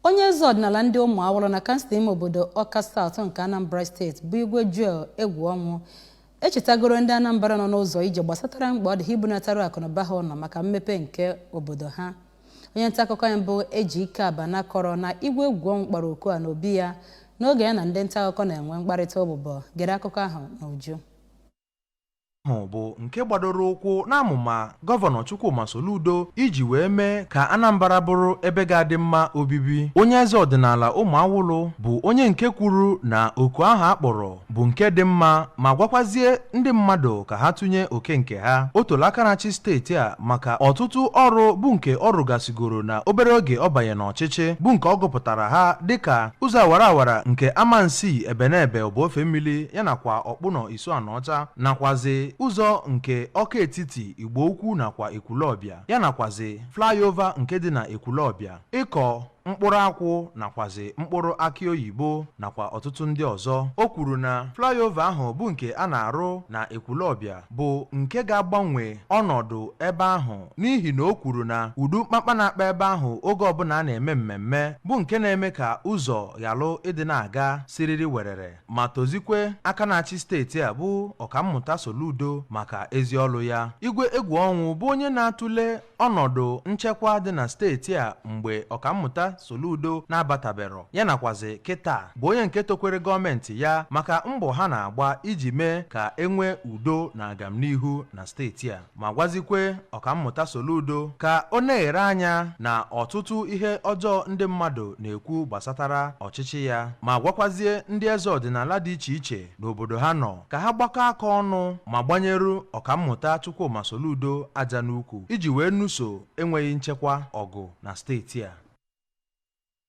Onye eze ọdịnala ndị Ụmụawụlụ na kansụl ime obodo Ọka South nke Anambra steeti bụ Igwe Joel Egwuọnwụ echetagoro ndị Anambra nọ n'ụzọ ije gbasatara mkpa ọ dị ha ibunatara akụnụba ha ụlọ maka mmepe nke obodo ha. Onye nta akụkọ anyị bụ Ejike Abana kọrọ na Igwe Egwuọnwụ kpọrọ oku a n'obi ya n'oge ya na ndị nta akụkọ na-enwe mkparịta ụbụbọ. Gere akụkọ ahụ n'uju. ahụ bụ nke gbadoro ụkwụ n'amụma gọvanọ Chukwuma Soludo iji wee mee ka Anambra bụrụ ebe ga-adị mma obibi onye eze ọdịnala Ụmụawụlụ bụ onye nke kwuru na oku ahụ a kpọrọ bụ nke dị mma ma gwakwazie ndị mmadụ ka ha tụnye oke nke ha o tola aka na-achị steeti a maka ọtụtụ ọrụ bụ nke ọ rụgasigoro na obere oge ọ banye n'ọchịchị bụ nke ọ gụpụtara ha dịka ụzọ awara awara nke Amansi Ebenebe Ọba Ofemili ya nakwa Ọkpụnọ Isuanịọcha nakwazị ụzọ nke Ọka Etiti, Igbo Ukwu nakwa Ekwulọbịa ya nakwazị flyover nke dị na Ekwulọbịa, ịkọ mkpụrụ akwụ nakwazị mkpụrụ akị oyibo nakwa ọtụtụ ndị ọzọ. O kwuru na flyover ahụ bụ nke a na-arụ na Ekwulọbịa bụ nke ga-agbanwe ọnọdụ ebe ahụ n'ihi na o kwuru na ụdị mkpakpa na-akpa ebe ahụ oge ọbụla a na-eme mmemme bụ nke na-eme ka ụzọ ghalụ ịdị na-aga siriri werere. ma tozikwe aka na-achị steeti a bụ ọkammụta Soludo maka ezi ọlụ ya Igwe Egwuọnwụ bụ onye na-atụle ọnọdụ nchekwa dị na steeti a mgbe ọkammụta Soludo na-abatabero ya nakwazi kịta bụ onye nke tokwere gọọmenti ya maka mbọ ha na-agba iji mee ka e nwee udo na agamnihu na steeti a ma gwazikwe ọkammụta Soludo ka o neghere anya na ọtụtụ ihe ọjọọ ndị mmadụ na-ekwu gbasatara ọchịchị ya ma gwakwazie ndị eze ọdịnala dị iche iche n'obodo ha nọ ka ha gbakọ aka ọnụ ma gbanyeru ọkammụta Chukwuma Soludo aja n'ukwu iji wee nụso enweghị nchekwa ọgụ na steeti a